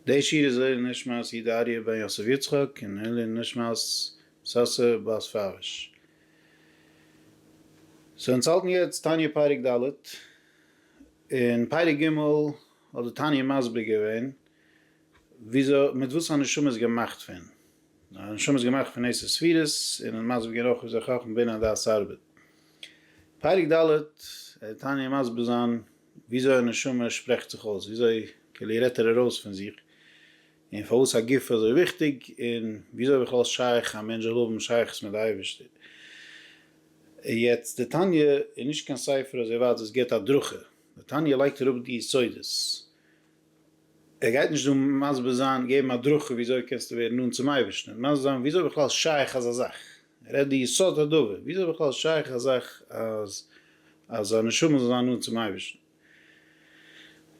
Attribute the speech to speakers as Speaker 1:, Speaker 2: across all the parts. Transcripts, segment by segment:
Speaker 1: די שיר איז לעילוי נשמת איד אריה בן יוסף יצחק און לעילוי נשמת סאסא בת פאוויש. סאו אונז האלטן יעצט תניא פרק ד'. אין פרק ג' האט די תניא מסביר געווען וויאזוי מיט וואס א נשמה איז געמאכט פון. א נשמה איז געמאכט פון עשר ספירות און האט מסביר געווען אויך וויאזוי חכמה בינה דעת ארבעט. פרק ד' וועט די תניא מסביר זיין וויאזוי א נשמה שפרעכט זיך אויס, וויאזוי כאילו רעדט ער ארויס פון זיך, און פארוואס א גוף איז אזוי וויכטיג, און וויאזוי בכלל איז שייך א מענטש זאל האבן שייכות מיט די אייבערשטער. יעצט די תניא איז נישט קיין ספר אזוי ווייט וואס געבט הדרכה, די תניא לייגט אראפ די יסודות, ער גייט נישט דא מסביר זיין, געבן הדרכה וויאזוי קענסטו ווערן נאנט צום אייבערשטן, מסביר זיין וויאזוי בכלל איז שייך אזא זאך, ער רעדט די יסוד הדבר, ווי איז בכלל שייך א זאך אז אז א נשמה זאל זיין נאנט צום אייבערשטן?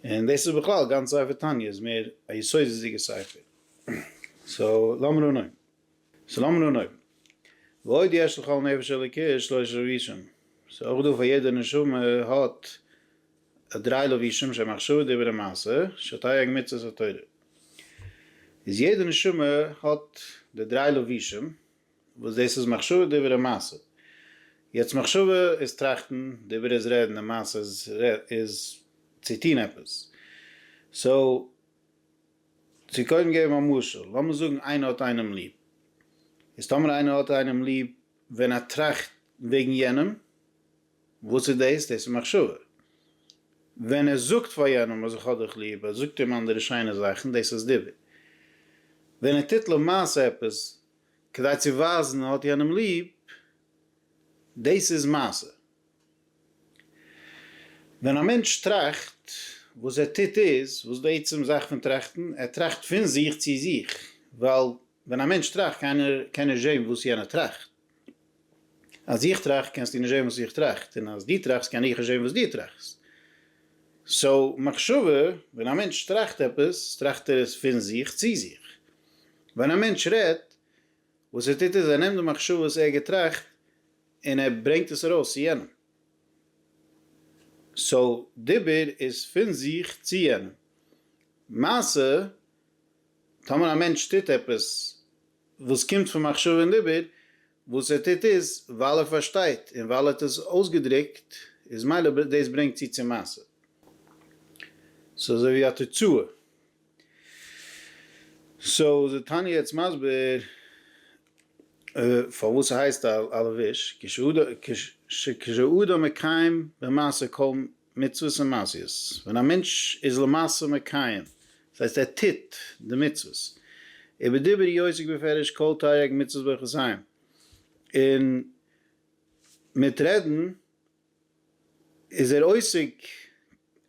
Speaker 1: און דאס איז בכלל, גאנץ ספר תניא איז מער א יסודות'דיגע ספר. סאו לאמיר אנהויבן. סאו לאמיר אנהויבן. ועוד יש לכל נפש אלוקית שלושה לבישים. ס'איז אויך דא פאר יעדע נשמה האט א דריי לבישים שהם מחשבה דיבור און מעשה, שתייג מצות ותורה. איז יעדע נשמה האט די דריי לבישים, וואס דאס איז מחשבה דברה מעשה. יעצט מחשבה איז טראכטן, דברה איז רעדן און מעשה איז איז צו טון עפעס. סאו, צו קודם געבן א משל, לאמיר זאגן איינער האט איינעם ליב. איז טאמער איינער האט איינעם ליב ווען ער טראכט וועגן יענעם. וואס איז דאס? דאס איז מחשבה. ווען ער זאגט פאר יענעם אז איך האב דיך ליב, ער זאגט אים אנדערע שיינע זאכן, דאס איז דיבור. ווען ער טוט למעשה עפעס כדי צו ווייזן ער האט יענעם ליב, דאס איז מעשה. ווען א מענטש טראכט, וואס ער טוט איז, וואס איז די עצם זאך פון טראכטן? ער טראכט פון זיך צו זיך, ווייל ווען א מענטש טראכט קען ער זען וואס יענער טראכט. אז איך טראכט קענסטו נישט זען וואס איך טראכט, און אז דו טראכסט קען איך נישט זען וואס דו טראכסט. סאו מחשבה, ווען א מענטש טראכט עפעס, טראכט ער עס פון זיך צו זיך. ווען א מענטש רעדט, וואס ער טוט איז ער נעמט די מחשבה וואס ער געטראכט און ער ברענגט עס ארויס צו יענעם. סאו דיבור איז פון זיך צו יענעם. מעשה טאמער א מענטש טוט עפעס וואס קומט פון מחשבה און דיבור, וואס ער טוט איז ווייל ער פארשטייט און ווייל ער האט עס אויסגעדרוקט, איז מילא דאס ברענגט צו צו מעשה. ס'איז אזוי ווי א תוצאה. סאו איז די תניא יעצט מסביר פארוואס ס'הייסט א לבוש, כשהוא אדם מקיים במעשה כל מצוות און מעשיות, ווען א מענטש איז למעשה מקיים, דאס הייסט ער טוט די מצוות, ובדיבור י עוסק בפירוש כל תריג מצוות ברכות ה', און מיט רעדן איז ער עוסק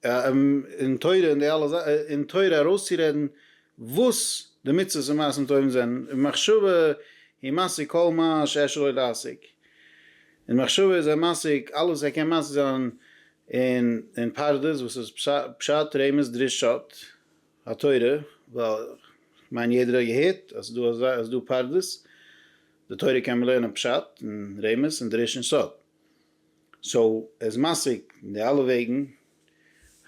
Speaker 1: אין תורה און די אלע זאכן, אין תורה ארויסצורעדן וואס די מצוות און מעשים טובים זענען, ומחשבה היא מעשה כל מה שאפשר לו להשיג, אין מחשבה איז ער משיג אלעס ער קען משיג זיין אין אין פרדס וואס איז פשט רמז דרישות התורה ווייל כ'מיין יעדער האט געהערט אז ס'דא אזא אז ס'דא פרדס די תורה קען מען לערנען פשט און רמז און דריש און סוד סאו ער איז משיג די אלע וועגן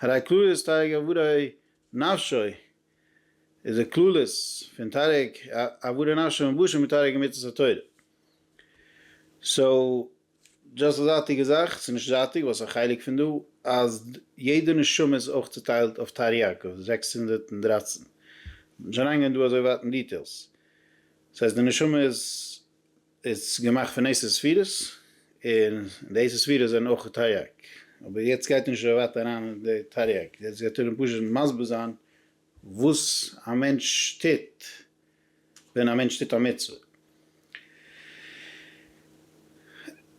Speaker 1: הרי כללות תייגא וראי נפשו איז די כללות פון תריג עבודה נפשי מלבושים מיט תריג מצות התורה. סאו דשאסט א זייטיגע זאך, ס'איז נישט זייטיג ווייל ס'איז א חלק פון דא אז יעדע נשמה איז אויך צוטיילט אויף תריג זעקס הונדערט און דרײַצן. שוין איינגעגאנגען דא אזוי ווייט אין דיטעילס. ס'הייסט די נשמה איז איז געמאכט פון עשר ספירות, און די עשר ספירות זענען אויך תריג, אבער יעצט גייט נישט אזוי ווייט אריין אין די תריג, יעצט גייט ארום פשוט מסביר זיין וואס א מענטש טוט ווען א מענטש טוט א מצוה.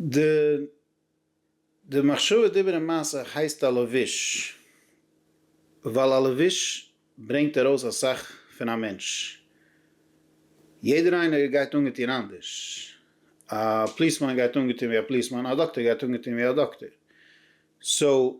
Speaker 1: די די מחשבה דיבורים מעשה הייסט א לבוש, ווייל א לבוש ברענגט ארויס אסאך פון א מענטש, יעדער איינער גייט אנגעטון אנדערש, א פליסמאן גייט אנגעטון ווי א פליסמאן, א דאקטער גייט אנגעטון ווי א דאקטער, סאו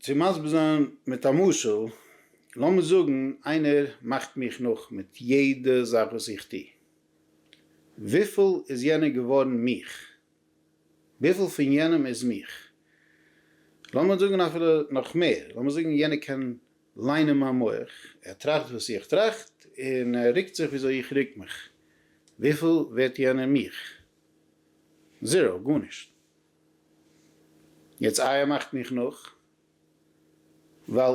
Speaker 1: צו מסביר זיין מיט א משל, לאמיר זאגן איינער מאכט מיך נאך מיט יעדע זאך וואס איך טו, וויפיל איז יענער געווארן מיך? וויפיל פון יענעם איז מיך? לאמיר זאגן אפילו נאך מער, לאמיר זאגן יענער קען ליינען מיין מח, ער טראכט וואס איך טראכט און ער רוקט זיך וויאזוי איך רוק מיך, וויפיל ווערט יענער מיך? זיראו, גארנישט. יעצט איה מאכט מיך נאך, ווייל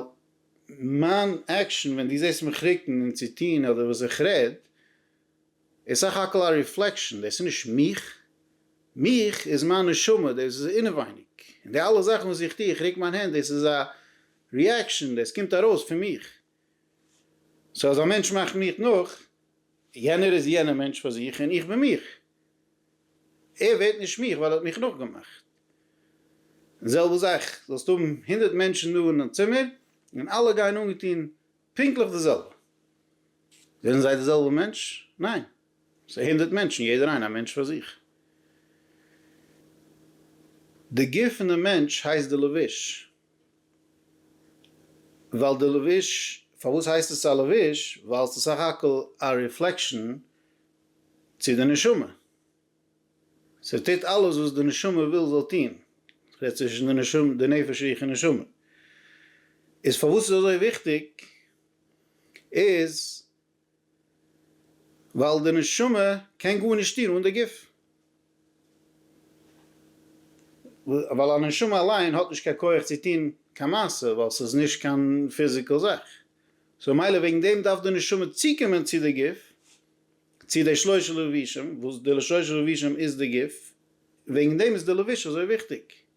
Speaker 1: מיין עקשאן ווען דו זעסט מיך רוקן און צו טון אדער וואס איך רעד איז סך הכל א ריפלעקשאן, דאס איז נישט מיך, מיך איז מיין נשמה, דאס איז אינעווייניג, און די אלע זאכן וואס איך טו, איך רוק מיין הענט, דאס איז א ריעקשאן, דאס קומט ארויס פון מיך. סאו אז א מענטש מאכט מיך נאך, יענער איז יענער מענטש פאר זיך און איך בין מיך. ער ווערט נישט מיך ווייל ער האט מיך נאכגעמאכט. די זעלבע זאך, זאלסט האבן הונדערט מענטשן דא אין א צימער און אלע גייען אנגעטון פונקטליך די זעלבע. זענען זיי די זעלבע מענטש? ניין. ס'איז הונדערט מענטשן, יעדער איינער א מענטש פאר זיך. די גוף פון די מענטש הייסט די לבוש. ווייל די לבוש, פארוואס הייסט עס א לבוש? ווייל עס איז סך הכל א ריפלעקשאן צו די נשמה, ס'טוט אלעס וואס די נשמה וויל ס'זאל טון, כ'רעד צווישן די נשמה, די נפש רוח און נשמה, איז פארוואס ס'איז אזוי וויכטיג איז, ווייל די נשמה קען גארנישט טון אן די גוף. ווייל א נשמה אליין האט נישט קיין כח צו טון קיין מעשה ווייל ס'איז נישט קיין פיזיקעל זאך. סאו ממילא וועגן דעם דארף די נשמה צוקומען צו די גוף, צו די שלשה לבושים, וואס די שלשה לבושים איז די גוף, וועגן דעם איז די לבוש אזוי וויכטיג.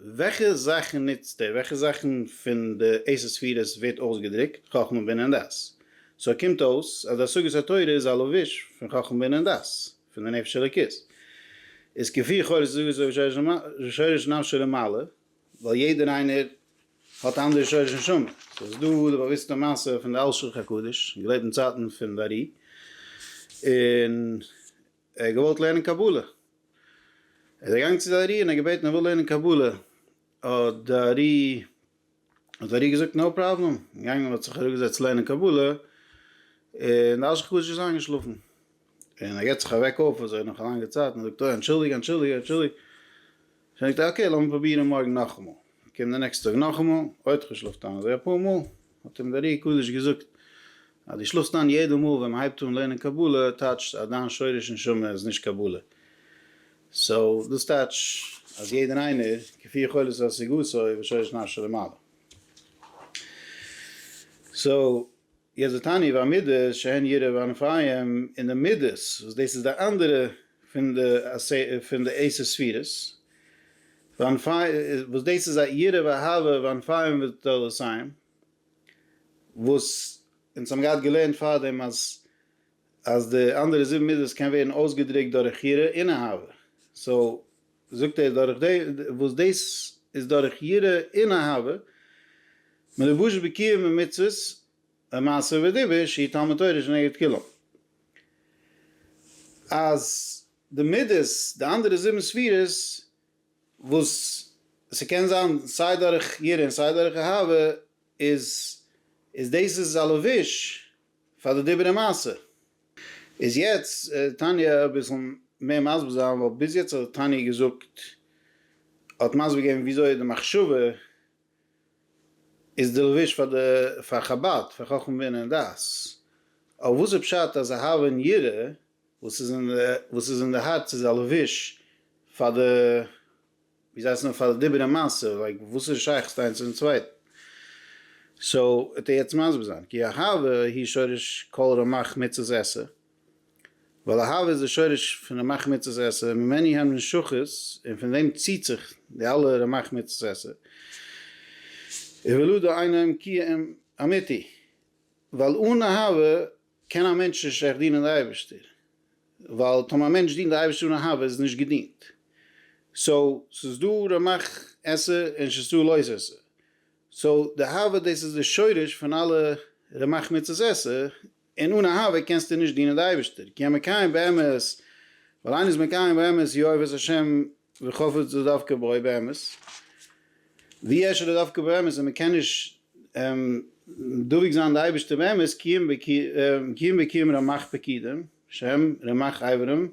Speaker 1: וועלכע זאכן נוצט ער? וועלכע זאכן פון די עשר ספירות ווערט אויסגעדרוקט חכמה בינה און דעת? סאו קומט אויס אז די השגת התורה איז א לבוש פון חכמה בינה און דעת, פון די נפש אלוקית. איז כפי כל זוגות אויף שורש נפשו למעלה, ווייל יעדער איינער האט א אנדערע שורש נשמה. סאו איז דא די באוויסטע מעשה פון די אלשיך הקדוש, געלעבט אין צייטן פון די ארי, און ער האט געוואלט לערנען קבלה, ער איז אגאנגען צו די ארי און ער האט געבעטן ער וויל לערנען קבלה, האט די ארי האט די ארי געזאגט נאו פראבלעם, געגאנגען און האט זיך אראפגעזעצט לערנען קבלה, און די אש קדוש איז איינגעשלאפן, און ער געט זיך אוועק אויף אזוי נאך א לאנגע צייט און זאגט אוי אנטשולדיג אנטשולדיג אנטשולדיג. זאג איך דיר אקעי לאמיר פרובירן מארגן נאכאמאל, קום די נעקסטע טאג נאכאמאל, אוי איך האב געשלאפט איין אזוי אפאר מאל, האט אים דער ר י קדוש געזאגט אז דו שלאפסט איין יעדע מאל ווען מהייבט אן לערנען קבלה, טייטשט אז דיין שורש נשמה איז נישט קבלה, סאו דאס טייטש אז יעדער איינער כפי יכולת השגתו ושורש נפשו למעלה, סאו יעצט די תניא איבער המידות שהן יראה וענפיים און די מידות וואס דאס איז די אנדערע פון די פון די עשר ספירות וענפי וואס דאס איז א יראה ואהבה וענפיים ותולדותיים וואס אונז האבן געהאט געלערנט פארדעם אז אז די אנדערע זיבן מידות קען ווערן אויסגעדרוקט דורך יראה און אהבה סאו זאגט ער דורך די וואס דאס איז דורך יראה און אהבה, מלבוש בקיום ומצוות ומעשה ודיבור שהיא תלמוד תורה שנגד כולם, אז די מידות די אנדערע זיבן ספירות וואס ס'קען זיין סיי דורך יראה און סיי דורך אהבה איז איז דאס איז א לבוש, פאר די דיבורי מעשה. איז יעצט תניא אביסל מער מסביר זיין ווייל ביז יעצט האט תניא געזאגט האט מסביר געבן וויאזוי די מחשבה איז די לבוש פאר די פאר חבד פאר חכמה בינה און דעת אבער וואס איז פשט אז אהבה און יראה וואס איז אין וואס איז אין די הארץ איז א לבוש פאר די ווי זיי הייסן פאר די דיבורי מעשה, לייק וואס איז שייכות איינס צום צווייטן? סאו וועט ער יעצט מסביר זיין, כי אהבה היא שורש כל רמח מצות עשה, ווייל אהבה איז די שורש פון רמח מצות עשה, ממנה הן נמשכות, און פון דעם ציט זיך די אלע רמח מצות עשה, ולו דאינו עם קיום אמיתי, ווייל אן אהבה קען א מענטש נישט עכט דינען די אייבערשטער, ווייל טאמער א מענטש דינט די אייבערשטער אן אהבה איז עס נישט געדינט, סאו ס'איז דא רמח עשה און שסה לא עשה, סאו די אהבה דאס איז די שורש פון אלע רמח מצות עשה, און אן אהבה קענסטו נישט דינען די אייבערשטער, כי המקיים באמת, ווייל איינער איז מקיים באמת יאהב את השם, ווי חשוב איז דווקא בוי באמת? ווי ערשט איז דווקא באמת, און מען קען נישט דבוק זיין די אייבערשטער באמת, קיום וקיום רמח פקידים, שם רמח אברים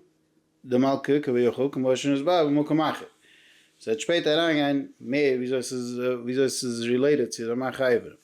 Speaker 1: דמלכא כביכול כמו שנוסבר במקום אחר. עס וועט שפעטער אריינגיין מער וויאזוי עס איז רילעיטעד צו רמח אברים.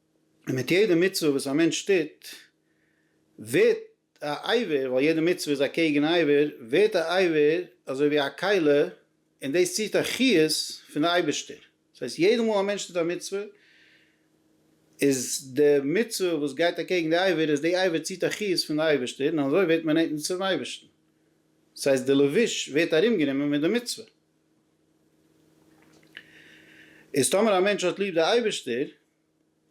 Speaker 1: און מיט יעדע מצוה וואס א מענטש טוט ווערט א עיוור, ווייל יעדע מצוה איז אקעגן א עיוור, ווערט א עיוור אזוי ווי א כלה, און דאס ציט א חיות פון די אייבערשטער, דאס הייסט יעדע מאל א מענטש טוט א מצוה, איז די מצוה וואס גייט אקעגן די עיוור, איז די עיוור ציט א חיות פון די אייבערשטער, און אזוי ווערט מען נענטער צום אייבערשטן, דאס הייסט די לבוש ווערט ארום גענומען מיט די מצוה, איז טאמער א מענטש האט ליב די אייבערשטער,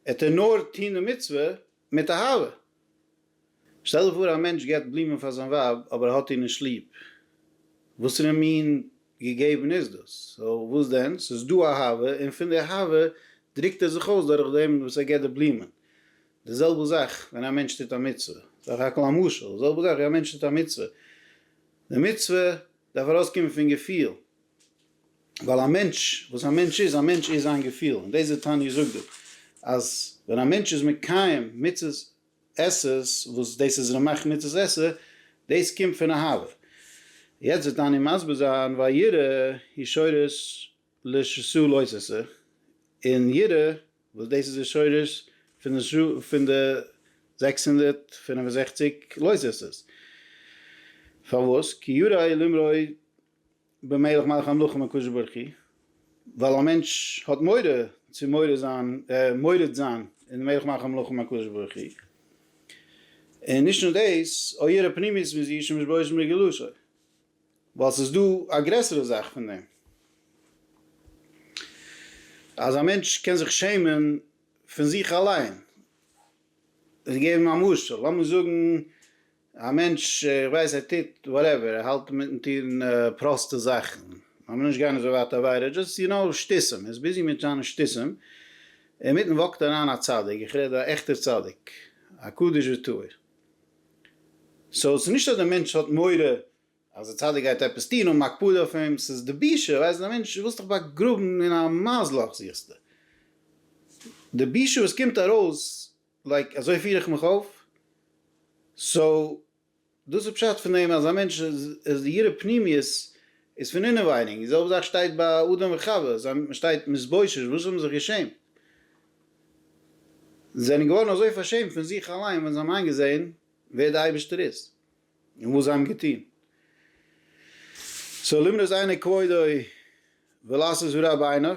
Speaker 1: ער טאר נאר טון די מצוה מיט אהבה. שטעל דיך פאר א מענטש געבט בלומען פאר זיין ווייב אבער ער האט איר נישט ליב. וואסערע מין געגעבן איז דאס? סאו וואס דען? ס'איז דא אהבה און פון די אהבה דרוקט ער זיך אויס דורך דעם וואס ער געבט די בלומען. די זעלבע זאך ווען א מענטש טוט א מצוה. סך הכל א משל. די זעלבע זאך ווי א מענטש טוט א מצוה. די מצוה דארף ארויסקומען פון געפיל. ווייל א מענטש, וואס א מענטש איז, א מענטש איז זיין געפיל, און דאס איז תניא זאגט דא, אז ווען א מענטש איז מקיים מצות עשה, וואס דאס איז רמח מצות עשה, דאס קומט פון אהבה. יעצט וועט תניא מסביר זיין, והיראה היא שורש לשסה לא ששה, און יראה, וואס דאס איז די שורש פון די זעקס הונדערט פֿינף און זעכציק לא ששה'ס, פארוואס? כי יראה היא למראה במילך מאך א נחום הקדוש ברוך הוא, ווייל א מענטש האט מורא צו מורד זיין, מורד זיין, און במילך מאך א נחום הקדוש ברוך הוא, און נישט נאר דאס, או ירא פנימיות מזיע שמשבויש מרגלותו, ווייל ס'איז דא א גרעסערע זאך פון דעם, אז א מענטש קען זיך שעמען פון זיך אליין, איך געב אים א משל, לאמיר זאגן א מענטש, איך ווייס ער טוט וואטעווער, ער האלט מיטן טון פראסטע זאכן, לאמיר נישט גיין אזוי ווייט עבירה, דזשאסט יו נאו שטותים, ער איז ביזי מיט זיינע שטותים, אינמיטן וואקט אריין א צדיק, איך רעד א עכטער צדיק, א קדוש וטהור, סאו ס'איז נישט אז די מענטש האט מורא אז די צדיק גייט עפעס טון, האבן הקפדה אויף אים, ס'איז די בושה, ווייסט די מענטש, דו ווילסט דיך באגראבן אין א מייז לאך זוכסטו, די בושה וואס קומט ארויס לייק אזוי פיר איך מיך אויף, סאו דאס איז פשט פון דעם אז א מענטש איז ירא פנימיות איז פון אינעווייניג, די זעלבע זאך שטייט ביי אדם וחוה, זיי שטייט מתבושש, וואס זיי האבן זיך געשעמט, זיי זענען געווארן אזוי פארשעמט פון זיך אליין ווען זיי האבן איינגעזען ווער די אייבערשטער איז און וואס זיי האבן געטון, סאו למנות עיני כבודו ולעשות זו רע בעיניו.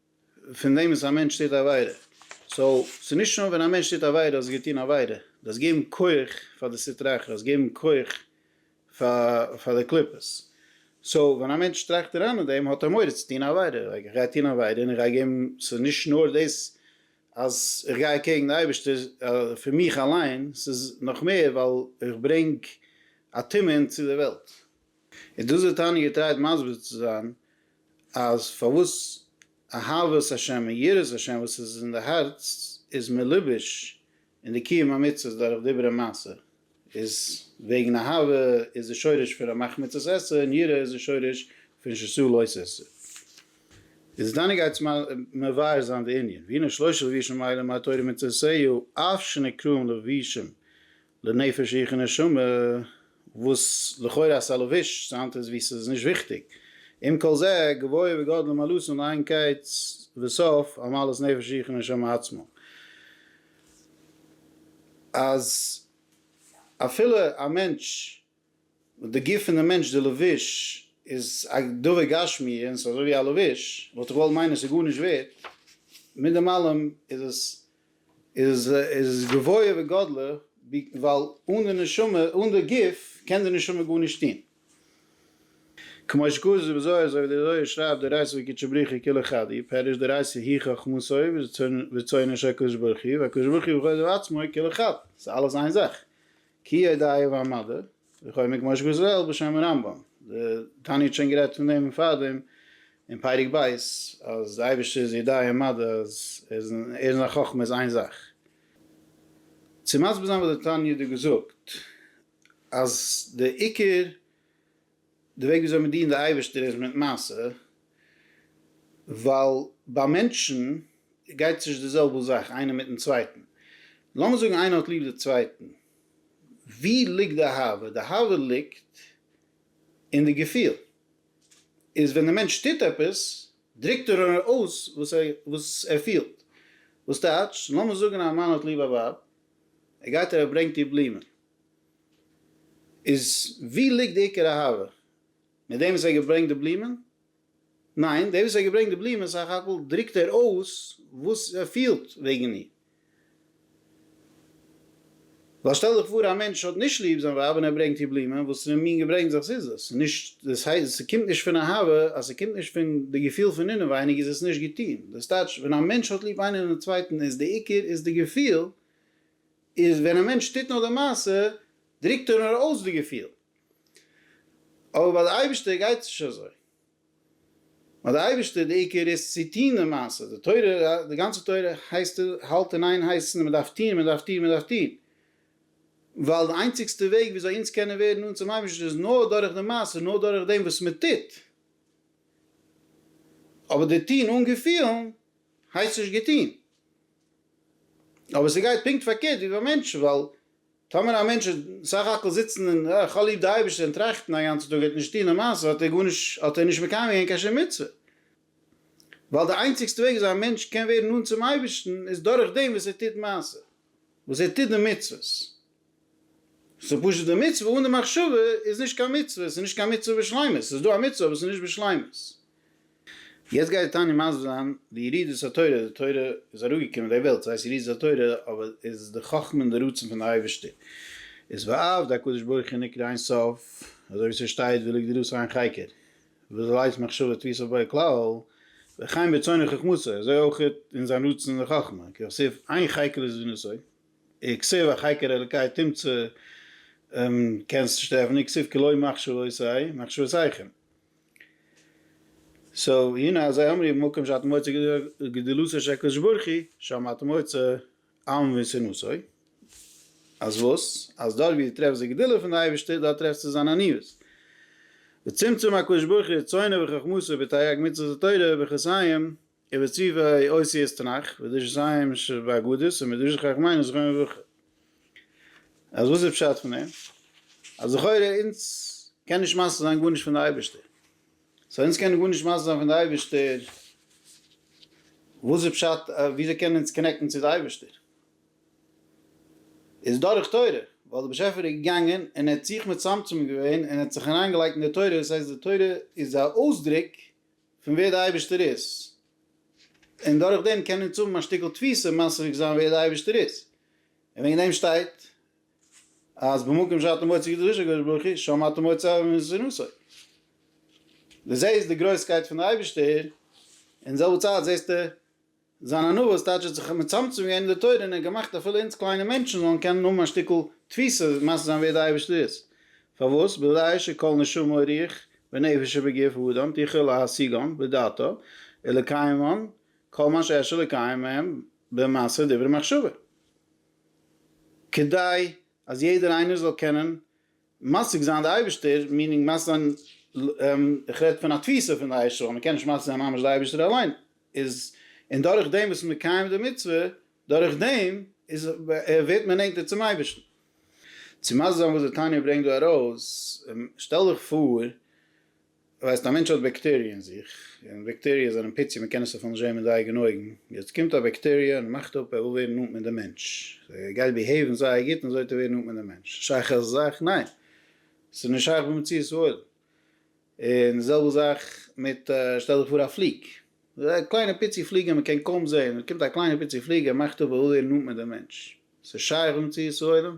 Speaker 1: פון דעם וואס א מענטש טוט א עבירה. סאו, ס'איז נישט נאר ווען א מענטש טוט א עבירה אז ער האט געטון עבירה. דו האסט געגעבן כח פאר די סטרא אחרא, דו האסט געגעבן כח פאר די קליפות. סאו, ווען א מענטש טראכט אריין אין דעם האט ער מורא צו טון א עבירה. לייק, איך גיי טון א עבירה און איך גיי געבן, ס'איז נישט נאר דאס אז איך גיי אקעגן די אייבערשטער פון מיך אליין, ס'איז נאך מער ווייל איך ברענג א טומאה אינטו די וועלט. איז דאס וואס טאני געטרייט מסביר צו זיין אז פארוואס אהבת השם און יראת השם וואס איז אין די הארץ איז מלובש אין די קיום המצוות דורך דיבור און מעשה, איז וועגן אהבה איז די שורש פון ר' מחמיצות עשה און יראה איז די שורש פון ששא לא עשה. איז דאן גייטס מבאר זיין די ענין, והנה שלושה לבישים אלה מהתורה מצוותיה אף שנקראים לבישים לנפש איך נשמה, וואס לכאורה א סאלאוויטש סאנד איז ווי ס'איז נישט וויכטיג. עם כל זה, גבוה וגדול מעלות אן איין קץ וסוף, על מעלות נפש איך נשמה עצמו. אז אפילו א מענטש די גוף פון די מענטש, די לבוש, איז א דבר גשמי און ס'איז אזוי ווי א לבוש, וואלט איך געוואלט מיינען ס'איז גארנישט ווערט, מיט דעם אלעם איז עס גבוה וגדלה, ווייל אן די נשמה, אן די גוף, קען די נשמה גארנישט טון. כמו שכתוב בזוהר, אזוי ווי דער זוהר שרייבט, דאורייתא וקדשא בריך הוא כולו חדי, פירוש דאורייתא היא חכמתו ורצונו של הקדוש ברוך הוא, והקדוש ברוך הוא בכבודו ובעצמו הוא כולו חד, ס'איז אלעס איין זאך, כי ידעיה ועמדה וכו' מגמור שגזל בשם הרמב ם, די תניא האט שוין גערעדט פון דעם פארדעם אין פרק ב' אז די אייבערשטער איז ידעיה ומדה אז ער איז אין זיין חכמה איז איין זאך. צו מסביר זיין וואס די תניא האט דא געזאגט אז די עיקר די וועג וויאזוי מען דינט די אייבערשטער איז מיט מעשה, ווייל ביי מענטשן גייט עס נישט די זעלבע זאך איינער מיטן צווייטן, לאמיר זאגן איינער האט ליב די צווייטן, ווי ליגט די אהבה? די אהבה ליגט אין די געפיל, איז ווען די מענטש טוט עפעס דרוקט ער אויס וואס ער פילט, וואס טייטש, לאמיר זאגן א מאן האט ליב א ווייב, ער גייט און ער ברענגט איר בלומען, איז ווי ליגט די עיקר אהבה? מיט דעם וואס ער האט געברענגט די בלומען? ניין, דער וואס ער האט געברענגט די בלומען סך הכל דרוקט ער אויס וואס ער פילט וועגן איר. ווייל שטעל דיך פאר א מענטש האט נישט ליב זיין ווייב און ער ברענגט איר בלומען, וואסערע מין געברענגטס איז דאס? ס'איז נישט, דאס הייסט ס'קומט נישט פון אהבה, אז ס'קומט נישט פון די געפיל פון אינעווייניג איז עס נישט געטון. דאס טייטש ווען א מענטש האט ליב איינער און די צווייטן איז די עיקר איז די געפיל איז ווען א מענטש טוט נאר די מעשה דרוקט ער נאר אויס די געפיל, אבער ביי די אייבערשטער גייט עס נישט אזוי, ביי די אייבערשטער די עיקר איז צו טון די מעשה, די תורה די גאנצע תורה הייסט האלט אין איין הייסן מען דארף טון מען דארף טון מען דארף טון, ווייל די איינציגסטע וועג ווי אזוי אונז קענען ווערן נאנט צום אייבערשטן איז נאר דורך די מעשה נאר דורך דעם וואס מען טוט, אבער די טון אן געפילן הייסט נישט געטון. אבער ס'גייט פונקט פארקערט ווי ביי מענטשן, ווייל טאמער א מענטש איז סך הכל זיצן און אה, כ'האב ליב די אייבערשטער און טראכטן א גאנצן טאג ער האט נישט צוטון למעשה האט ער גארנישט האט ער נישט מקיים געווען קיין שום מצוה, ווייל די איינציגסטע וועג וויאזוי א מענטש קען ווערן נאנט צום אייבערשטן איז דורכדעם וואס ער טוט מעשה, וואס ער טוט די מצוות, ס'איז פשוט די מצוה אן די מחשבה איז נישט קיין מצוה, ס'איז נישט קיין מצוה בשלימות, ס'איז דא א מצוה אבער ס'איז נישט בשלימות. יעצט גייט די תניא מסביר זיין די ירידת התורה, די תורה איז אראפגעקומען אין די וועלט, ס'הייסט ירידת התורה, אבער איז די חכמה און די רצון פון די אייבערשטער איז ועבד הקדוש ברוך הוא נקרא אין סוף, אזוי ווי ס'שטייט ולא גדלות אין חקר וזו לית מחשבה תפיסה בו כלל, וכן ברצון וחכמתו, אזוי אויך אין זיין רצון און חכמה, כסוף אין חקר איז ווי נשוא. כסוף אַ חקר אלקי תמצא קענסט נישט טרעפן און כסוף כלא מחשבותיי מחשבותיכם. סאו הנה אזי אמרי במקום שאתה מוצא גדולתו של הקדוש ברוך הוא שם אתה מוצא עם ונסיונותו. אז וואס? אז דארט ווי דו טרעפסט די גדולה פון די אייבערשטער דארט טרעפסטו זיין עניות. וצמצום הקדוש ברוך הוא רצונו וחכמתו בתרי"ג מצוות התורה וכסאים. ובצבעי אותיות תנך, ודרשו זיין ש ב אגדות, און מדרשי חכם היינו זכרון לברכה. אז וואס איז פשט פון דעם? אז לכאורה אונז קען נישט משיג זיין גארנישט פון די אייבערשטער. סא אונז קענען גארנישט משיג זיין פון די אייבערשטער, וואס איז פשט וויאזוי קענען אונז קאנעקטן צו די אייבערשטער? איז דורך תורה, ווייל די באשעפער איז געגאנגען און ער האט זיך מצמצם געווען און ער האט זיך אריינגעלייגט אין די תורה, דאס הייסט די תורה איז א אויסדרוק פון ווער די אייבערשטער איז, און דורך דעם קען אונז האבן א שטיקל תפיסה מספיק זיין ווער די אייבערשטער איז, און וועגן דעם שטייט אז במקום שאתה מוצא קדושת הקדוש ברוך הוא שם אתה מוצא מסירותו, די זעהסט די גרויסקייט פון די אייבערשטער און זעלבע צייט זעהסטו. זיין ענווה איז טייטש ער האט זיך מצמצם געווען אין די תורה און ער האט געמאכט אפילו אונז קליינע מענטשן זאלן קענען האבן א שטיקל תפיסה מסביר זיין ווער די אייבערשטער איז פארוואס בוודאי שכל נשמה רוח ונפש שבגוף האדם תוכל להשיגון בדעתו ולקיימון כל מה שאפשר לקיים מהם במעשה ודיבור ומחשבה כדי אז יעדער איינער זאל קענען משיג זיין די אייבישטער מיענינג משיג זיין איך רעד פון א תפיסה פון די עשה מען קען נישט משיג זיין ממש די אייבישטער אליין איז און דורך דעם וואס מען קיים די מצוה דורך דעם איז ווערט מען נענטער צום אייבישטן. צו משיג זיין וואס די תניא ברענגט דא ארויס, שטעל דיך פאר, ווייסט, א מענטש האט בעקטעריע אין זיך, און בעקטעריע זענען פיצי, מען קען עס אפילו נישט זען מיט די אייגענע אויגן, יעצט קומט א בעקטעריע און מאכט אפ ער וויל ווערן נאנט מיט די מענטש, ער גייט ביהעיוון זייער גוט און אזוי וועט ער ווערן נאנט מיט די מענטש, שייך אזא זאך? ניין! ס'איז נישט שייך במציאות העולם. און די זעלבע זאך מיט שטעל דיך פאר א פליג, א קליינע פיצי פליג וואס מען קען קוים זען, קומט א קליינע פיצי פליג ער מאכט אפ ער וויל ווערן נאנט מיט די מענטש, ס'איז שייך במציאות העולם?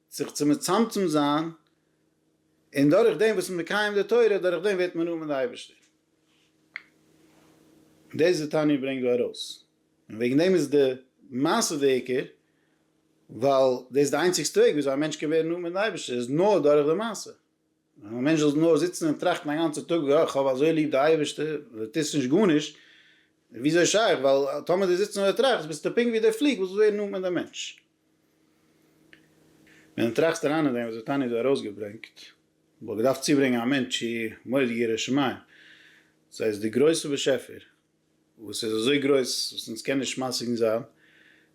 Speaker 1: זיך צו מצמצם זיין, און דורך דעם וואס מען מקיים די תורה, דורך דעם ווערט מען נאנט מיט די אייבערשטער. דאס די תניא ברענגט דא ארויס, און וועגן דעם איז די מעשה די עיקר, ווייל דאס איז די איינציגסטע וועג וויאזוי א מענטש קען ווערן נאנט מיטן אייבערשטער, איז נאר דורך די מעשה. ווען א מענטש זאל נאר זיצן און טראכטן א גאנצע טאג ווי איך האב אזוי ליב די אייבערשטער און דו טוסט נישט גארנישט, איז וויאזוי שייך, ווייל טאמער דו זיצט נאר דער טראכסט ביסטו פונקט ווי דער פליג וואס איז ווערן נאנט מיט דעם מענטש. ווען דו טראכסט אריין אין דעם וואס דער תניא האט דא ארויסגעברענגט, וואלט געדארפט צובערענגען א מענטש צו מורד ירא שמים, זיי איז דער גרויסער באשעפער, וואס איז אזוי גרויס וואס אונז קען נישט משיג זיין, ער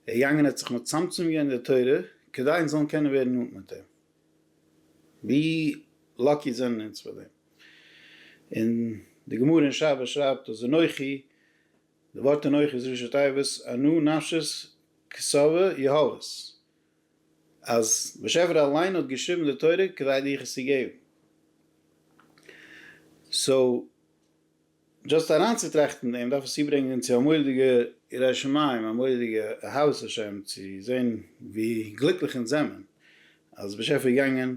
Speaker 1: איז געגאנגען ער האט זיך מצמצם געווען די תורה כדי אונז זאלן קענען ווערן נאנט מיט אים, ווי לאקי זענען אונז פאר דעם, און די גמרא אין שבת שרייבט אז אנכי, די ווארט אנכי איז ראשי תיבות אנא נפשית כסבה יהללת, אז באשעפער אליין האט געשריבן די תורה כדי דיך עס צו געבן, סאו. דזשאסט אריינצוטראכטן דעם דארף עס צוברענגען צו א מורא'דיגע יראת שמים, א מורא'דיגע אהבת השם צו זען ווי גליקליך אונז זעמען אז דער באשעפער איז געגאנגען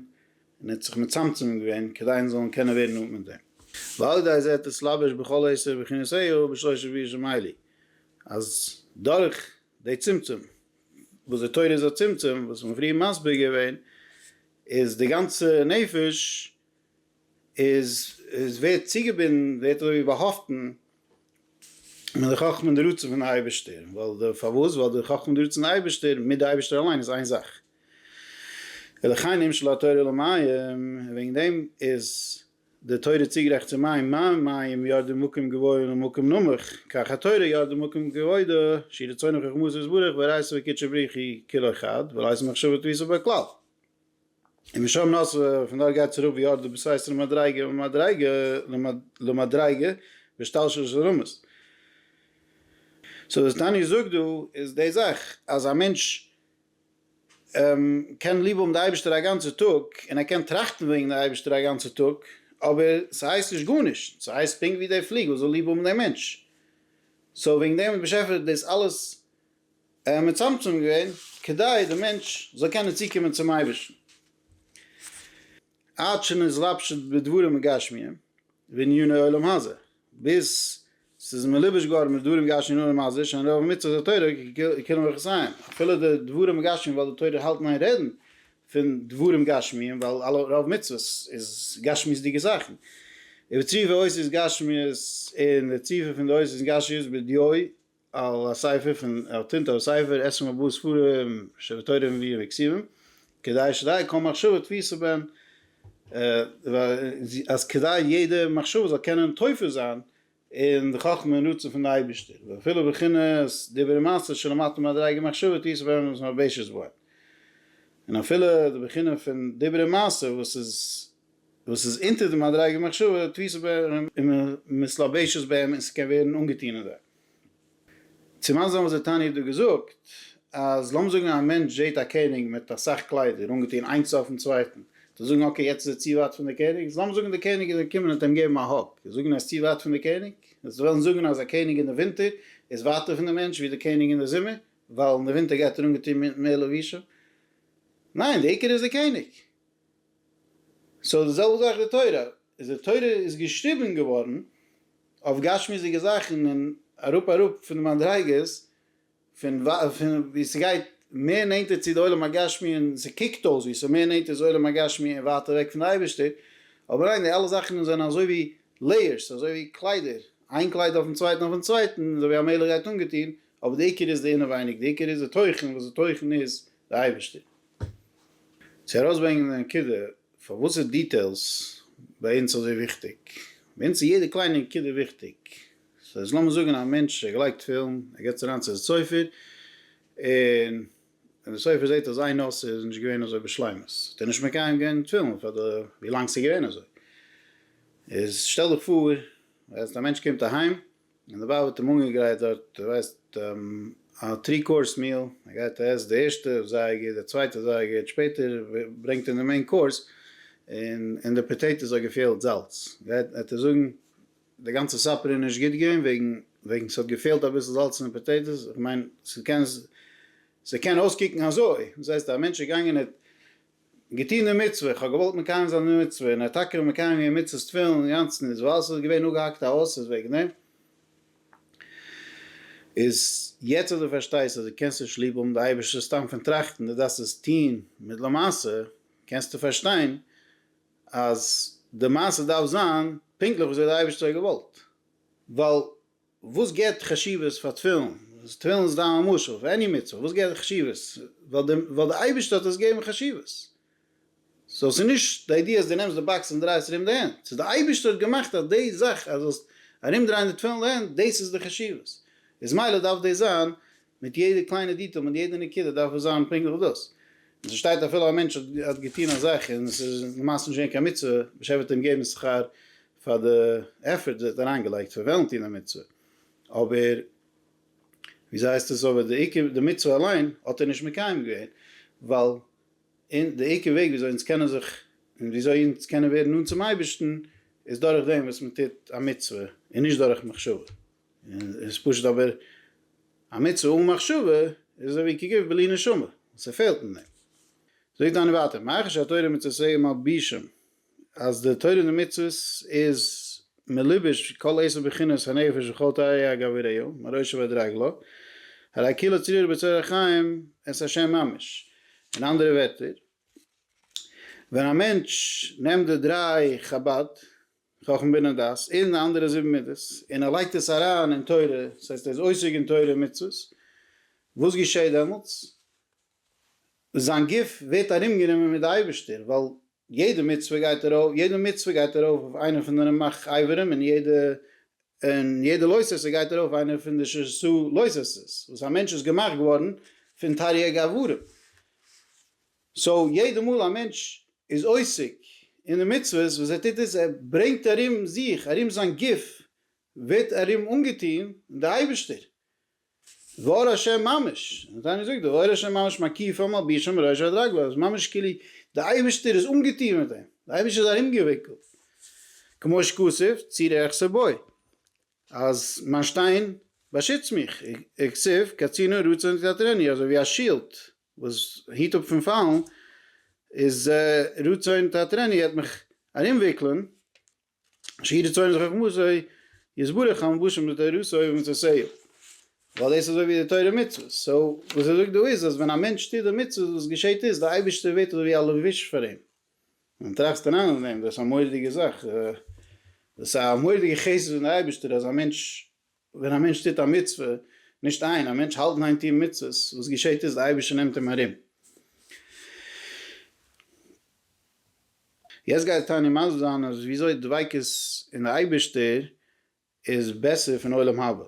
Speaker 1: און ער האט זיך מצמצם געווען כדי אונז זאלן קענען ווערן נאנט מיט אים, ועל ידי זה תתלבש בכל עשר בכינותיו בשלוש רביעי שמיילי, אז דורך די צמצום וואס די תורה איז א צמצום וואס מ'האט פריער מסביר געווען, איז די גאנצע נפש איז איז ווערט צוגעבינדן, ווערט אזויווי באהאפטן, מיט די חכמה און די רצון פון די אייבערשטער, ווייל די, פארוואס? ווייל די חכמה און די רצון אייבערשטער מיט די אייבערשטער אליין איז איין זאך. ולכן נמשלה התורה למים, און וועגן דעם איז די תורה צוגערעכנט צו מים, מים מים ירדו ממקום גבוה אל מקום נמוך, כך התורה ירדה ממקום כבודה, שהיא רצונו וחכמתו יתברך, והרייסא וקדשא בריך היא כלא חד, ולא הייתה מחשבה תפיסה בה כלל. און משם נאספה, פון דארט גייט עס אראפ ווי ארדער בסייס ר' מדריגה ממדריגה למדריגה בהשתלשלות של רמות. סאו וואס תניא זאגט דא איז די זאך אז א מענטש קען ליב האבן די אייבערשטער א גאנצע טאג און ער קען טראכטן וועגן די אייבערשטער א גאנצע טאג אבער ס'הייסט נישט גארנישט, ס'הייסט פונקט ווי די פליגל זאל ליב האבן די מענטש, סאו וועגן דעם האט דער באשעפער דאס אלעס ער האט מצמצם געווען כדי די מענטש זאל קענען צוקומען צום אייבערשטן, עד שנתלבשת בדברים גשמיים ועניני עולם הזה, ביז ס'איז מלובש געווארן מיט דברים גשמיים און עולם הזה, שאין רוב מצוות התורה ככולם מכסיים, אפילו די דברים גשמיים ווייל די תורה האלט איין רעדן פון דברים גשמיים ווייל אלע רוב מצוות איז גשמיות'דיגע זאכן, ובציווי עושית גשמיות און די ציווי פון די עושית גשיות בדיעו על הספר פון על תנטע הספר עשרים ארבעה ספרים שבתורה מביאים וכסילים כדי שדי כל מחשבה תפיסה בן אז כדי יעדע מחשבה זאל קענען תופס זיין אין די חכמה און רצון פון די אייבישטער ואפילו בחינת דיבור ומעשה שלמטה מדריגה מחשבה תפיסה בן וואס מ'האט בעישו זבאין און אפילו די בחינה פון דיבור און מעשה וואס איז וואס איז אונטער די מדריגת מחשבה תפיסה בהם ומתלבשת בהם און ס'קען ווערן אנגעטון אין זיי. צום אנזען וואס די תניא האט דא געזאגט אז לאמיר זאגן א מענטש זעט א קעניג מיט אסאך קליידער אנגעטון איינס אויפן צווייטן, וועט ער זאגן אקעי יעצט איז ער צו ווייט פון די קעניג, איז לאמיר זאגן די קעניג איז געקומען און האט אים געגעבן א האג, איז זאגן ער איז צו ווייט פון די קעניג? וועסטו וועלן זאגן אז א קעניג אין די ווינטער איז ווייטער פון די מענטש ווי די קעניג אין די זומער, ווייל אין די ווינטער גייט ער אנגעטון מיט מער לבושים? ניין, די עיקר איז די קעניג. סאו די זעלבע זאך די תורה, איז די תורה איז געשריבען געווארען אויף גשמיות'דיגע זאכען און אראפ אראפ פון די מדריגות פון ווי ס'גייט מער נענטער צו די עולם הגשמי און ס'קוקט אויס ווי ס'מער נענטער צו עולם הגשמי און ווייטער אוועק פון די אייבישטער, אבער ניין די אלע זאכען זענען אזוי ווי לעיערס אזוי ווי קליידער איין קלייד אויפן צווייטען אויפן צווייטען אזוי ווי א מלך גייט אנגעטוהן אבער די עיקר איז די אינעווייניג די עיקר איז די תוכן וואס די תוכן איז די אייבערשטער צו ארויסברענגען די נקודה פארוואס איז דיטעילס ביי אונז אזוי וויכטיג, ביי אונז איז יעדע קליינע נקודה וויכטיג, סאו איז לאמיר זאגען א מענטש ער גלייגט תפילין ער גייט אריין צו די סופר און ווען די סופר זעט אז איין נושא איז נישט געווען אזוי בשלימות האט ער נישט מקיים געווען תפילין פאר די ווי לאנג סאיז געווען אזוי, איז שטעל דיך פאר אז די מענטש קומט אהיים. און דערביי וועט אים אנגעגרייט דארט דו ווייסט א טרי קאורס מיעל, ער גייט ער עסט די ערשטע זייער גוט די צווייטע זייער גוט שפעטער ברענגט אים די מעין קאורס און אין די פאטעיטאס האט געפעלט זאלץ גייט וועט ער זאגן די גאנצע סאפער איז נישט גוט געווען וועגן וועגן ס'האט געפעלט אביסל זאלץ אין די פאטעיטאס איך מיין ס'קען ס'קען אויסקוקן אזוי דאס הייסט א מענטש איז געגאנגען ער האט געטון די מצוה, איך האב געוואלט מקיים זיין די מצוה, און ער האט טאקע מקיים געווען מצות תפילין אינגאנצן, איז ווייל ס'איז געווען אפגעהאקט א האס איז וועגן דעם, איז יעצט אז דו פארשטייסט אז דו קענסט נישט ליב האבן די אייבערשטער סתם פון טראכטן, דו דארפסט עס טון מיט למעשה, קענסטו פארשטיין אז די מעשה דארף זיין פונקטליך וויאזוי די אייבערשטער האט געוואלט, ווייל וואס גיבט חשיבות פאר תפילין? תפילין איז סתם א משל, פאר עני מצוה, וואס גיבט חשיבות? ווייל די ווייל די אייבערשטער האט עס געגעבן חשיבות. סאו ס'איז נישט די איידיע אז דו נעמסט די באקס און דרייסט ארום די הענט, ס'איז די אייבערשטער האט געמאכט אז די זאך אז זאלסט ארום דרייען די תפילין די הענט דאס איז די חשיבות, איז מילא דארף דאס זיין מיט יעדע קליינע דיטעל מיט יעדע נקודה דארף עס זיין פונקטליך דאס, און ס'שטייט אפילו א מענטש האט געטון א זאך און ס'איז למעשה נישט געווען קיין מצוה, ושבט אים געבן שכר פאר די עפערט וואס ער האט אריינגעלייגט פון וועלן טון א מצוה, אבער וויאזוי הייסט עס אבער די עיקר די מצוה אליין האט ער נישט מקיים געווען, ווייל אין די עיקר וועג וויאזוי אונז קענען זיך און וויאזוי אונז קענען ווערן נאנט צום אייבערשטן איז דורך דעם וואס מען טוט א מצוה און נישט דורך מחשבה, איז פשוט אבער א מצוה אן מחשבה איז אזוי ווי כגיב בלי נשמה, ס'פעלט אין דעם. זאגט דאן ווייטער, מאחר שהתורה מצוה מלבישים אז די תורה און די מצוות איז מלובש כל עשר בחינות הנפש וכל תאי הגבריא מראשו ועד רגלו, הרי כאילו צרור בצרור החיים את השם ממש, אין אנדערע ווערטער ווען א מענטש נעמט די דריי חבד, חכמה בינה דעת, און די אנדערע זיבן מידות און ער לייגט עס אריין אין תורה, דאס הייסט ער איז עוסק אין תורה און מצוות, וואס געשעט דעמאלטס? זיין גוף ווערט ארומגענומען מיט די אייבערשטער, ווייל יעדע מצוה גייט ארויף, יעדע מצוה גייט ארויף אויף איינע פון די רמח אברים, און יעדע, און יעדע לוי' ססע גייט ארויף אויף איינע פון די ש ס לוי' ססעס, וואס א מענטש איז געמאכט געווארן פון תריג אברים. סאו יעדע מאל א מענטש איז עוסק אין די מצוות, וואס ער טוט איז, ער ברענגט ארום זיך, ארום זיין גוף ווערט ארום אנגעטון דער אייבערשטער, ואור השם ממש, און זיי האבן געזאגט די ואור השם ממש מקיפו מלבישו מראש ועד רגלו, אז ממש כאילו די אייבערשטער איז אנגעטון מיט אים, די אייבערשטער איז ארומגעוויקלט, כמו שכתוב צי רעך סבוי, אז מיין שטיין באשיצט מיך, וכסוף קצינא רצה נתקטרני, אזוי ווי א שילד וואס היט אפ פון פאלן, איז רצה נתקטרני עט מיך ארומוויקלען, שיעור צאנז חכמותו יתברך המבושם בתורתו ומצוותיו, ווייל דאס איז אזוי ווי די תורה און מצוות, סאו וואס ער זאגט דא איז אז ווען א מענטש טוט די מצוות וואס געשעהט איז די אייבערשטער ווערט אזוי ווי א לבוש פאר אים, ווען טראכסט אריין אין דעם דאס איז א מורא'דיגע זאך, דאס איז א מורא'דיגע חסד פון די אייבערשטער אז א מענטש ווען א מענטש טוט א מצוה, נישט איין, א מענטש האלט ניין טון מצוות, וואס געשעהט איז, די אייבערשטער נעמט אים ארום. יעצט גייט תניא מסביר זיין אז ווי אזוי דביקות אין די אייבערשטער איז בעסער פון עולם הבא,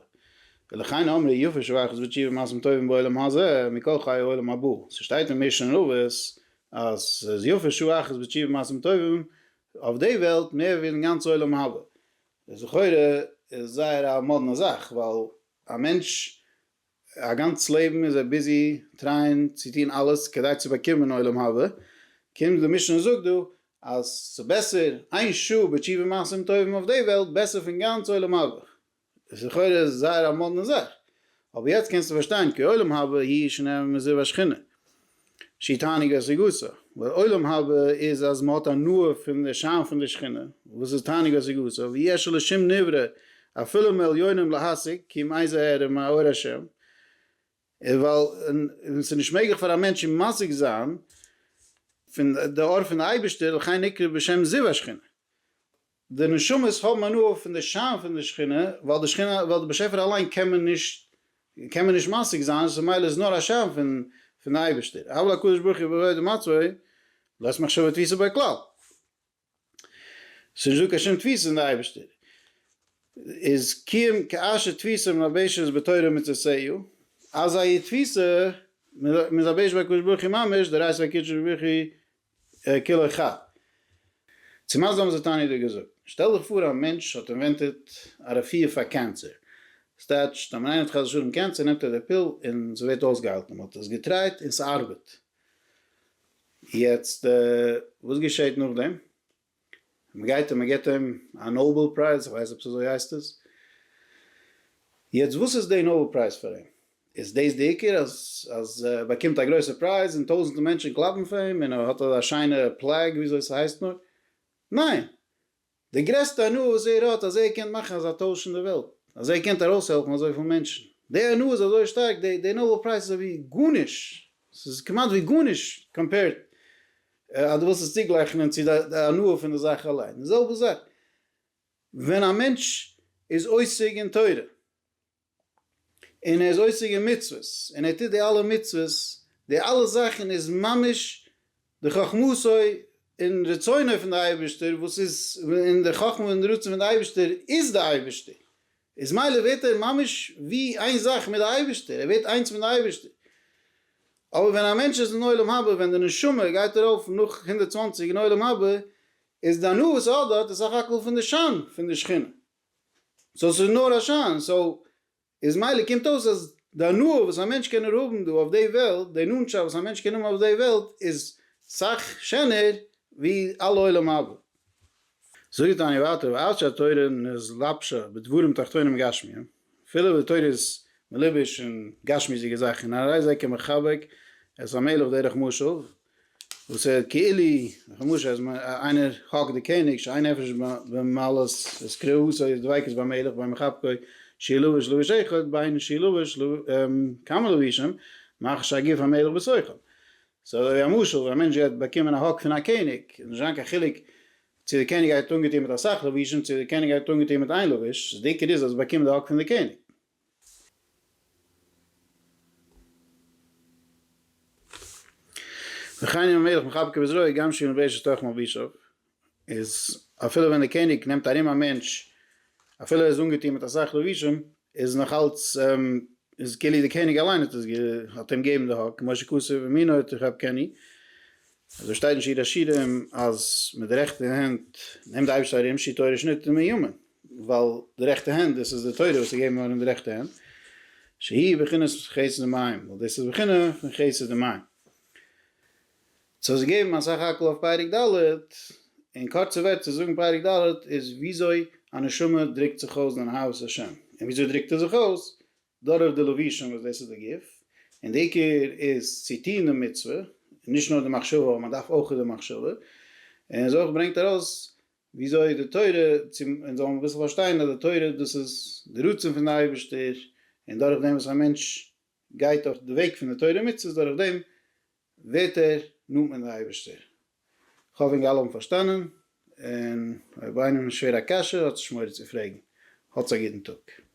Speaker 1: ולכן אמרי יפה שכר אחוז ותשובה מעשים טובים בעולם הזה מכל חיי העולם הבא, ס'שטייט אין משנה רבות אז ס'איז יפה שעה אחת בתשובה ומעשים טובים אויף די וועלט מער ווי אין גאנץ עולם הבא, דער סחורה איז זייער א מאדנע זאך ווייל א מענטש א גאנץ לעבן איז ער ביזי טרייען צו טון אלעס כדי צו באקומען עולם הבא, קומט די משנה און זאגט דא אז ס'איז בעסער איין שעה בתשובה מעשים טובים אויף די וועלט בעסער פון גאנץ עולם הבא, דער סחורה איז זייער א מאדנע זאך, אבער יעצט קענסטו פארשטיין כי עולם הבא היא שנאה ומזיב השכינה. שתענוגה סגוסה, לעולם הבא איז אז מ'האט הנאה פון די שיין פון די שכינה, וואס איז תענוגה סגוסה, ויש לשום נברא אפילו מעליונים להשיג, כי מאי זה הערה מאור השם, ווייל ס'איז נישט מעגליך פאר א מענטש משיג זיין פון די אור פון די אייבערשטער, לכן נקרא בשם זיו השכינה. די נשמות האבן הנאה פון די שיין פון די שכינה, ווייל די שכינה, ווייל די באשעפער אליין קען מען נישט, קען מען נישט משיג זיין, עס איז ממילא איז נאר א שיין פון פון די אייבערשטער, הבל הקדוש ברוך הוא בעבודה מצוי, לית מחשבה תפיסה ביי כלל, עס איז נישט דא קיין שום תפיסה אין די אייבערשטער, איז קיום כאשר תפיסה מלבשת בתורה ומצוות סייעו, אזא תפיסה מלבשת ביי הקדוש ברוך הוא ממש, דערהייסט ביי הקדוש ברוך הוא כלא ח. צו מה זה האבן זיי תניא דא געזאגט? שטעל דיך פאר א מענטש האט אינווענטעד א רעפיר פאר קענסער. ס'טייטשט אז ווען איינער האט חס ושלום קענסער נעמט ער די פיל און ס'ווערט אויסגעהיילט. מען האט עס געטרייט און ס'ארבעט. יעצט וואס געשעהט נאכדעם? מען גייט און מען געבט אים א נאבעל פרייז, איך ווייס נישט אויב ס'אזוי הייסט עס, יעצט וואס איז די נאבעל פרייז פאר אים? איז דאס די עיקר אז אז ער באקומט א גרויסע פרייז און טויזענטער מענטשען קלאפן פאר אים און ער האט אזא שיינע פלעג ווי אזוי ס'הייסט נאר? ניין! די גרעסטע הנאה וואס ער האט אז ער קען מאכן אזא טויש אין די וועלט, אז ער קען ארויסהעלפן אזויפיל מענטשען, די הנאה איז אזוי שטארק, די נאבעל פרייז איז אזויווי גארנישט, ס'איז כמעט ווי גארנישט קאמפעירד אז דו ווילסט עס צוגלייכענען צו די הנאה פון די זאך אליין, די זעלבע זאך ווען א מענטש איז עוסק אין תורה, און ער איז עוסק אין מצוות, און ער טוט די אלע מצוות, די אלע זאכן איז ממש די חכמתו און רצונו פון די אייבערשטער, וואס איז, און די חכמה און רצון פון די אייבערשטער איז די אייבערשטער, איז מילא ווערט ער ממש ווי איין זאך מיט די אייבערשטער, ער ווערט איינס מיט די אייבערשטער. אבער ווען א מענטש איז אין עולם הבא, ווען די נשמה גייט ארויף נאך הונדערט צוואַנציק אין עולם הבא, איז די הנאה וואס ער האט דארט איז סך הכל פון די שיין פון די שכינה, סאו ס'איז נאר א שיין, סאו איז מילא קומט אויס אז די הנאה וואס א מענטש קען נאר האבן דא אויף די וועלט, די נאנטשאפט וואס א מענטש קען האבן אויף די וועלט איז סך שענער ווי אלע עולם הבא. זאגט דאן ווייטער ואף שהתורה נתלבשה בדברים תחתונים גשמיים, אפילו וואס די תורה איז מלובש אין גשמיות'דיגע זאכן, הרי זה כמחבק את המלך דרך משל, וואס ער כאילו דורך א משל אז איינער האקט די קעניג שאין נפש במעלות את קרעהו, סוי די דביקות ביים מלך ביי מחבקו שיהיה לובש לבוש אחד, ביין שיהיה לובש כמה לבושים, מאחר שהגוף המלך בסוחר. ס'איז אזוי ווי א משל ווען א מענטש גייט באקומען א האק פון א קעניג, איז נישט זיין קיין חילוק צו די קעניג גייט אנגעטון מיט אסאך לבושים צו די קעניג גייט אנגעטון מיט איין לבוש, די עיקר איז אז ער באקומט די האק פון די קעניג. וכן ים המלך מחבקיו בזרועו גם שילן באש לתוך מלבישיו, איז אפילו ווען די קעניג נעמט ארום א מענטש אפילו ער איז אנגעטון מיט אסאך לבושים איז נאך אלץ איז כאילו די קעניג אליין האט עס האט אים געבן די האק משה כסף ומינו את רב קני אזוי שטייט אין שיר השירים אז מיט די רעכטע הענט נעמט די אייבערשטער ארום שו ת תורה שנית און מימון ווייל די רעכטע הענט דאס איז די תורה וואס איז געבן ארום די רעכטע הענט שהיא בחינת חסד ומים ווייל דאס איז בחינה פון חסד ומים. צו האסט געגעבן אסאך האקל אויף פרק ד', אין קורצע ווערטער צו זאגן פרק ד' איז וויאזוי א נשמה דרוקט זיך אויס דעם אהבת השם, און וויאזוי דרוקט ער זיך אויס? דורך די לבושים וואס דאס איז די גוף, און די עיקר איז צו טון די מצוה, נישט נאר די מחשבה אבער מען דארף אויך די מחשבה, און איז אויך ברענגט ארויס וויאזוי די תורה, צו אונז זאלן אביסל פארשטיין אז די תורה דאס איז די רצון פון די אייבערשטער, און דורך דעם וואס א מענטש גייט אויף די וועג פון די תורה ומצוות דורך דעם ווערט ער נאנט מיט די אייבערשטער. כ'האף ווען גאל האבן פארשטאנען, און אויב איינעם איז שווער א קשיא האט זיך שמורה צו פרעגן. האטס א גוטן טאג.